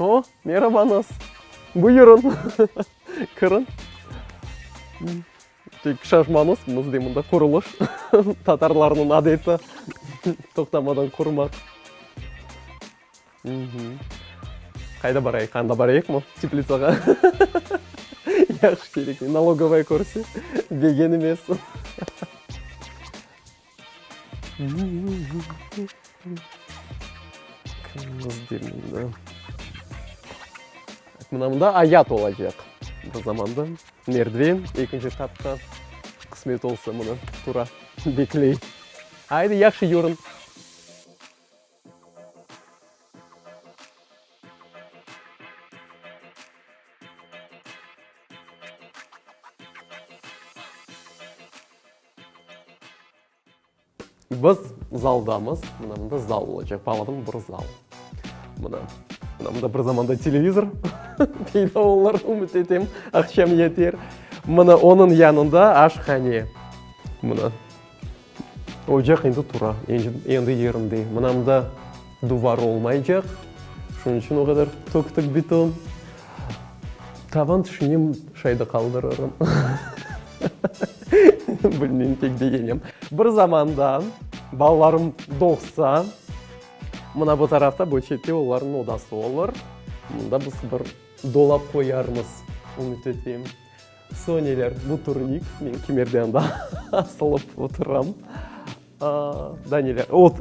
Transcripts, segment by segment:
O, merabañız! Buyurıñ, kiriñ! Tek şaşmañız, bizde mında qurulış, tatarlarnıñ adeti, toqtamadan qurmaq. Qayda barayıq, anda barayıqmı, teplitsağa? Yaxşı, kerekli, nalogovaya körse, degen emes. Mına mında ayat olacaq. Bir zamanda merdiven, ekinci qatqa, qısmet olsa, mına tura, bekley. Aydı, yahşı yürüñ! Biz zaldamız. Mına mında zal olacaq. Bağladım, bir zal. Mına. Mına mında bir zamanda televizor peyda olar, ümüt etem, aqşam yeter. Mına onıñ yanında aşhane. Mına. Ocaq endi tura, endi yerinde. Mına mında. Duvar olmaycaq, şunıñ içün o qadar töktük bitum. Tavan tüşünem, şayda qaldırırım. Bilmeyim, tek degenem. Bir zamanda balalarım doğsa, mına bu tarafta, bu çette olarnıñ odası olur. Mında biz bir dolap qoyarmız, ümüt eteyim. Soneler, bu turnik, men kimerde anda asılıp oturam. Danele, ot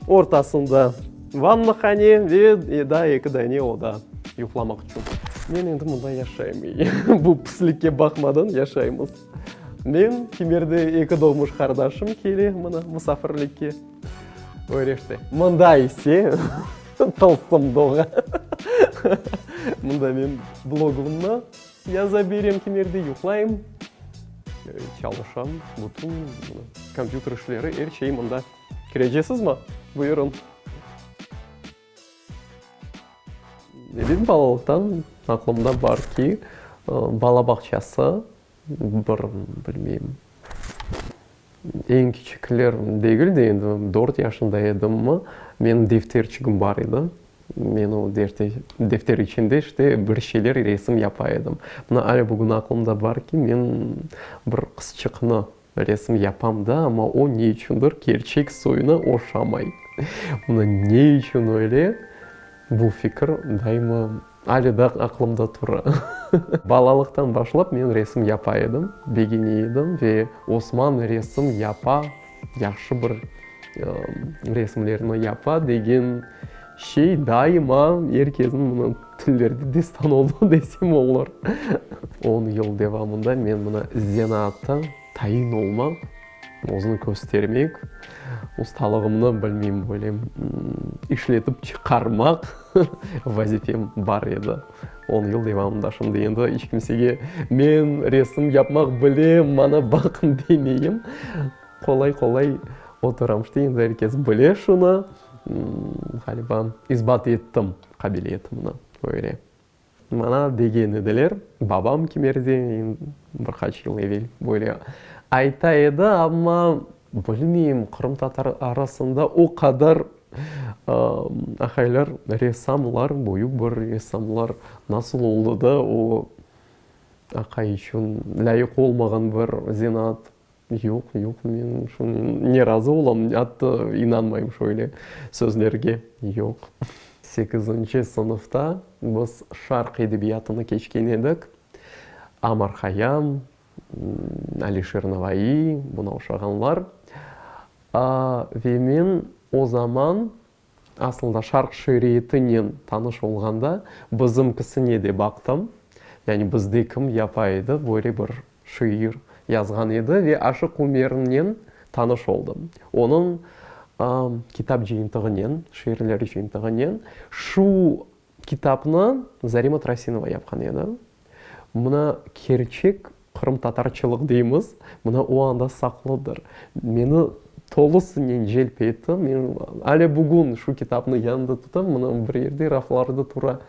ortasında vannahane ve daa eki dane oda yuqlamaq içün. Men endi mında yaşaym, bu pislikke baqmadan yaşaymız. Men, Kimerde eki doğmuş qardaşım kele mına musafirlikke, Öreşte. Mında ise, tılsım doğa, mında men blogımnı Yaza berem kimerde yuqlayım, çalışam, bütün kompyuter işleri, er şey mında. Kirecesizmi? Buyurıñ. Benim balalıqtan aqlımda bar ki, bala bağçası, bir, bilmeyim. Eñ kiçikler degil de endi, dört yaşında edimmi, menim defterçigim bar edi. Men o defter içinde işte bir şeyler resim yapa edim. Mına ale bugün aqlımda bar ki, men bir qızçıqnı resim yapam da, amma o ne içündir kerçek soyuna oşamay. Mına ne içün öyle, bu fikir daima. Alee daa aqlımda tura. Balalıqtan başlap men resim yapa edim, begene edim ve Osman resim yapa, yahşı bir resimlerni yapa degen şey daima er kezin mına tillerde destan oldı desem olar. On yıl devamında men mına zeenaatta Tayin olmaq, özüni köstermek, ustalığımnı, bilmeyim, böyle, işletip çıqarmaq vazifem bar edi, on yıl devamında. Şimdi endi iç kimsege men resim yapmaq bilem, maña baqıñ demeyim. Qolay-qolay oturam, işte, endi er kes bile şunı. Ğaliba, isbat ettim qabiliyetimni, öyle. Maña degen ediler, babam kimerde, bir qaç yıl evel böyle ayta edi, amma bilmeyim, qırımtatar arasında o qadar ahaylar, ressamlar, büyük bir ressamlar nasıl oldı da o aqay içün lâyıq olmağan bir zenaat Yoq, yoq, men şunı ne razı olam, ne atta inanmayım şöyle sözlerge, yoq. Sekizinci sınıfta biz Şarq edebiyatını keçken edik, Amar Hayam, Alişir Navaiy, buna oşağanlar. Ve men o zaman Asılda şarq şiiriyetinen tanış olğanda bizimkisine de baqtım, yani bizde kim yapa edi, böyle bir şiir yazğan edi ve Aşıq Umernen tanış oldım. Onıñ kitap cıyıntığınen, şiirler cıyıntığınen şu Kitapnı Zarima Trasinova yapqan edi. Mına kerçek qırımtatarçılıq deymiz, mına o anda saqlıdır. Meni tolusınen celp etti. Men ale bugün şu kitapnı yanımda tutam, mına bir yerde raflarda tura.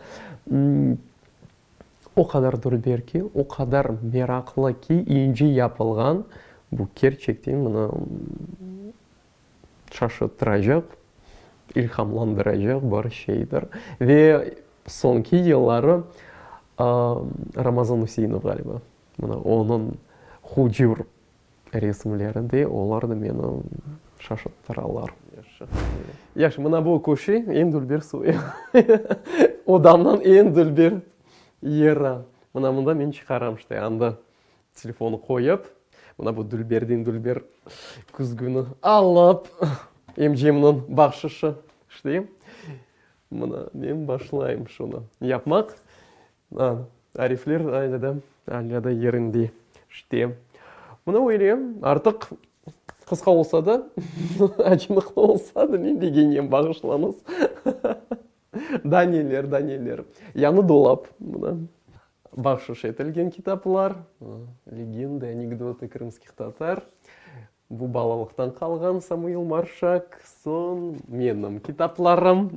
O qadar dülber ki, o qadar meraqlı ki, ince yapılğan, bu kerçekten mına. Şaşırtıracaq, ilhamlandıracaq bir şeydir. Ve soñki yılları Ramazan Üseinov ğaliba, mına onıñ hucur resimleri de, olar da meni şaşırttıralar. Yaşı, mına bu köşe, eñ dülber suvi. Odamnıñ eñ dülber yeri. Mına mında men çıqaram, işte, anda Telefonı qoyıp, mına bu Dülberdiñ Dülber küzgüni alıp, emcimniñ bahşışı, işleyim. Mına men başlayım şunı yapmaq. A, arifler alâ da, alâ da yerinde. İşte, mına böyle, artıq qısqa olsa da, acınıqlı olsa da, men degenem, bağışlañız. Da neler, da neler. Yañı dolap, mına. Bahşış etilgen kitaplar, Legendı, anekdotu krımskih tatar, bu balalıqtan qalğan Samuil Marşak, soñ menim kitaplarım,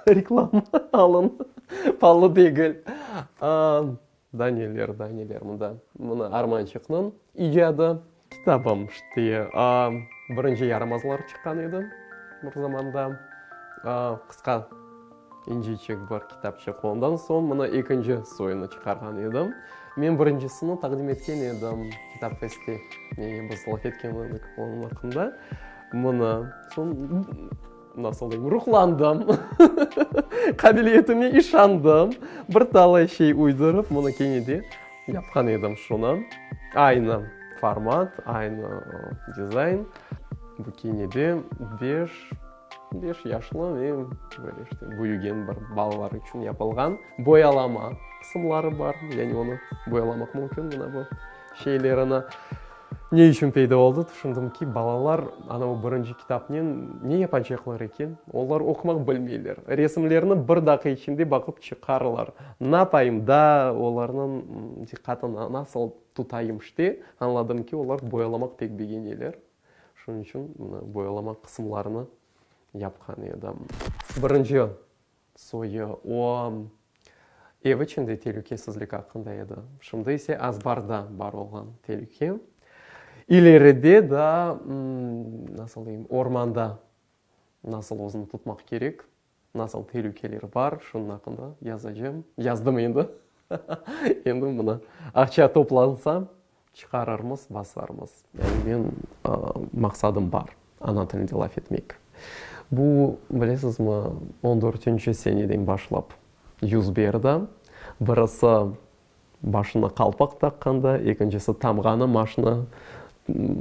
reklama, alın, palı degil. Da neler, da neler mında. Mına Armançıqnıñ icadı. Kitabım işte birinci yaramazlar çıqqan edi bir zamanda. Qısqa, incecik bir kitapçıq. Ondan soñ mına ekinci soyunı çıqarğan edim. Men birincisini taqdim etken edim Kitap festi. Biz laf etken edik onıñ aqqında. Mına, soñ. Nasıl deyim, ruhlandım, qabiliyetime işandım, bir talay şey uydurıp, bunı kene de yapqan edim şunı. Aynı format, aynı dizayn. Bu kene de beş, beş yaşlı ve böyle işte büyügen bir balalar içün yapılğan boyalama qısımları bar, yani onı boyalamaq mümkün, mına bu şeylerini. Ne içün peyda oldı? Tüşündim ki, balalar ana o birinci kitapnen ne yapacaqlar eken? Olar oqumaq bilmeyler. Resimlerni bir daqı içinde baqıp çıqarlar. Napayım da, olarnıñ diqqatını nasıl tutayım? İşte, añladım ki, olar boyalamaq pek begeneler. Şunıñ içün boyalamaq qısımlarını yapqan edim. Birinci. Soyı, o, ev içinde telükesizlik aqqında edi, şimdi ise azbarda bar olğan telüke, ileride daa, nasıl deyim, ormanda nasıl özüni tutmaq kerek, nasıl telükeler bar, şunıñ aqqında yazacağım, yazdım endi, endi mına aqça toplansa. Çıqararmız, basarmız. Yani men maqsadım bar, ana tilinde laf etmek. Bu, bilesizmi, on dörtünci seneden başlap yüz berdi. Birisi başına qalpaq taqqanda, ekincisi tamğanı maşina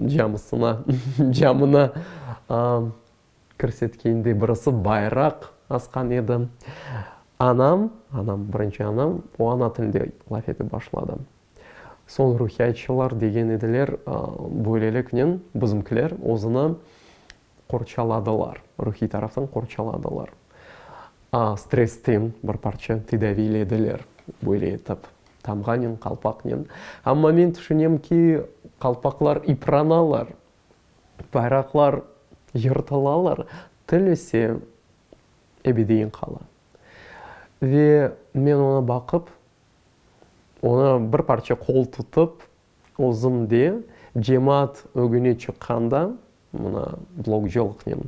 camısına, camına kirsetkende birisi bayraq asqan edi. Anam, anam, birinci anam, o ana tilinde laf etip başladı. Soñ ruhiyatçılar degen ediler, böyleliknen bizimkiler özüni qorçaladılar, ruhiy taraftan qorçaladılar. Stressten bir parça tedaviylediler böyle etip, tamğanen, qalpaqnen. Amma men tüşünem ki, qalpaqlar ıpranalar. Bayraqlar yırtılalar, til ise ebedeyin qala. Ve men oña baqıp, oña bir parça qol tutıp, özüm de, cemaat ögüne çıqqanda, mına, blokcılıqnen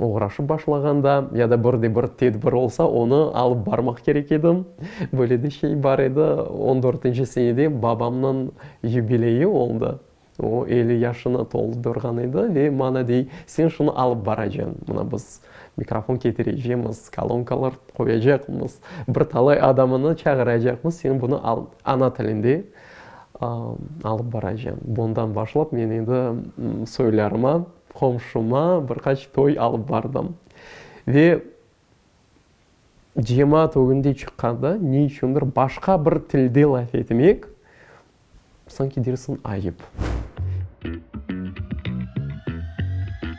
Oğraşıp başlağanda ya da bir de bir tedbir olsa, onı alıp barmaq kerek edim. Böyle de şey bar edi, on dörtünci senede babamnıñ yubileyi oldı. O elli yaşını toldurğan edi ve maña dey, sen şunı alıp baracañ, mına biz mikrofon ketirecemiz, kolonkalar qoyacaqmız, bir talay adamını çağıracaqmız, sen bunı al, ana tilinde alıp baracam. Bundan başlap men endi soylarıma, qomşuma bir qaç toy alıp bardım. Ve cemaat ögünde çıqqanda ne içündir başqa bir tilde laf etmek, sanki dersiñ ayıp.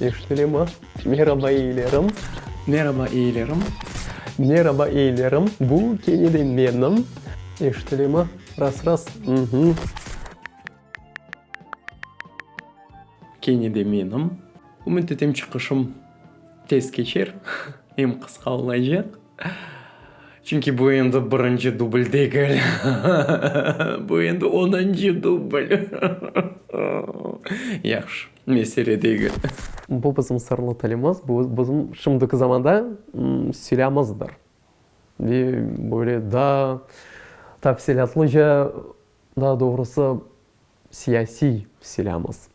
Eşitilemi? Meraba eyilerim. Meraba eyilerim. Meraba eyilerim. Bu kene de menim. Eşitilemi? Ras, ras. Uhmm. Kene de menim. Ümüt etem çıqışım tez keçer, em qısqa olacaq. Çünki bu endi birinci dubl degil, bu endi onıncı dubl. Yahşı, mesele degil. Bu bizim sırlı tilimiz, bu bizim şimdiki zamanda silâmızdır. Ve böyle daa tafsilâtlıca, daa doğrusı, Siyasiy silâmız.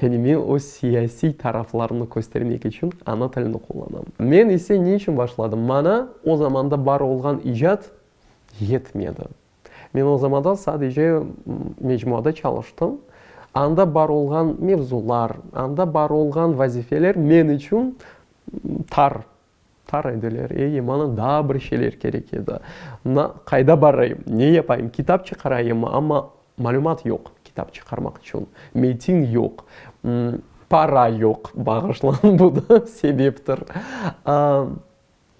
Yani men öz siyasiy taraflarımnı köstermek içün ana tilini qullanam. Men ise ne içün başladım? Maña o zamanda bar olğan icat yetmedi. Men o zamanda sadece mecmuada çalıştım. Anda bar olğan mevzular, anda bar olğan vazifeler men içün tar Tar ediler, ey, maña daa bir şeyler kerek edi. Na, qayda barayım, ne yapayım, kitap çıqarayımmı, amma malümat yoq, kitap çıqarmaq içün metin yoq, para yoq, bağışlañ, bu da sebeptir.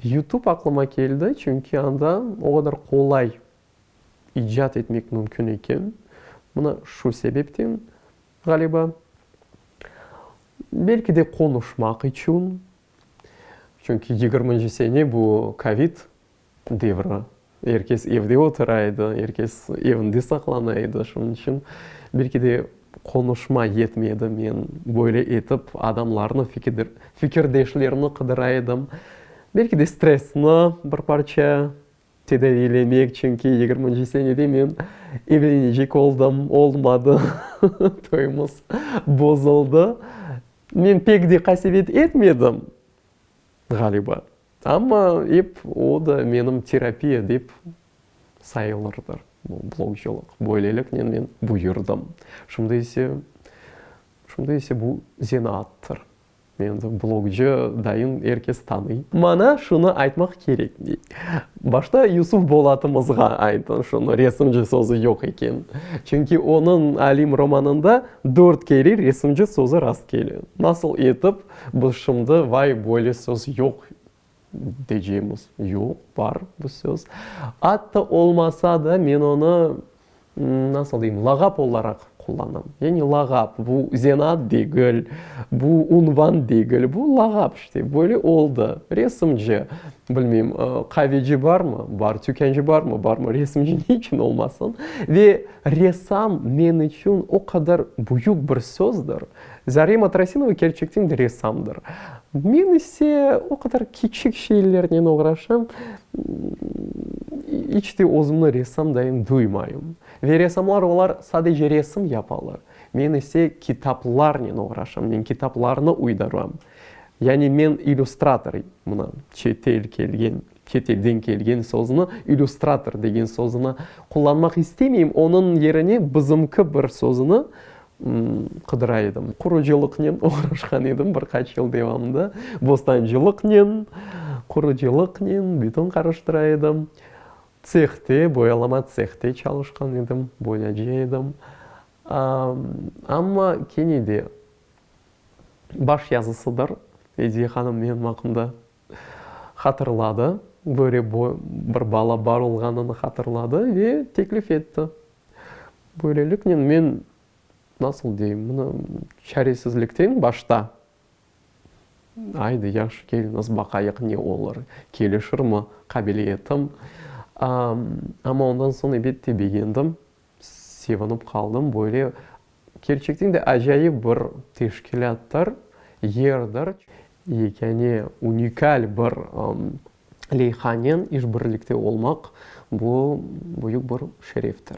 Yutub aqlıma keldi, çünki anda o qadar qolay icat etmek mümkün eken, mına şu sebepten, ğaliba, belki de, qonuşmaq içün. Çünki yigirminci sene bu covid devri, er kes evde otura edi, er kes evinde saqlana edi, şunıñ içün belki de qonuşma yetmedi, men böyle etip adamlarnı, fikirdeşlerni qıdıra edim, belki de stressni bir parça. Tedaviylemek, çünki yigirminci senede men evlenecek oldım, olmadı, toyumız bozuldı. Men pek de qasevet etmedim, ğaliba, amma ep o da menim terapiya dep sayılırdı, bu blogcılıq. Böyleliknen men buyurdım. Şimdi ise, şimdi ise bu zenaattır. Endi blogcı dayın er kes tanıy. Mana şunı aytmaq kerek, dey. Başta Yusuf Bolatımızğa aytın şunı, resimci sözü yoq eken. Çünki onıñ Alim romanında dört kere resimci sözü rast kele. Nasıl etip biz şimdi vay böyle söz yoq, Deycegimiz yoq, bar bu söz. Atta olmasa da, men onı, nasıl deyim, lağap olaraq qullanam. Yani lağap, bu zenat degil, bu unvan degil, bu lağap işte, böyle oldı. Resimci, bilmeyim, qaveci barmı? Bar. Tükânci barmı? Barmı. Resimci ne içün olmasın? Ve ressam men içün o qadar büyük bir sözdür. Zarema Trasinova kerçekten de ressamdır. Men ise o qadar kiçik şeylernen oğraşam, iç te özümni ressam dayım duymayım. Ve ressamlar olar sadece resim yapalar. Men ise kitaplarnen oğraşam, men kitaplarnı uydaram. Yani men illüstrator, mına, çetel kelgen, çetelden kelgen sözni, illüstrator degen sözüni qullanmaq istemeyim, onıñ yerine bızımkı bir sözüni qıdıra edim. Qurucılıqnen oğraşqan edim bir qaç yıl devamında. Bostancılıqnen, qurucılıqnen bütün qarıştıra edim. Tsehte, boyalama tsehte çalışqan edim, boyacı edim. Amma kene de baş yazısıdır, Ediye hanım menim aqqımda hatırladı, böyle bir bala bar olğanını hatırladı ve teklif etti. Böyleliknen men, nasıl deyim, mına, çaresizlikten başta, aydı, yahşı, keliñiz, baqayıq, ne olur, kelişirmi qabiliyetim. Amma ondan soñ, elbette, begendim, sevinip qaldım, böyle Kerçekten de acayip bir teşkilâttır, yerdir. Yekâne unikal bir leyhanen işbirlikte olmaq, bu, büyük bir şereftir.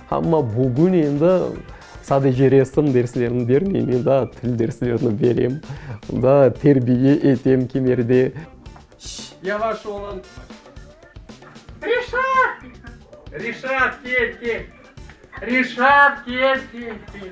Amma bugün endi sadece resim derslerini bermeyim, men daa til derslerini berem, daa terbiye etem kimerde. Şşş, yavaş olun. Reşat! Reşat, kel, kel. Reşat, kel, kel, kel.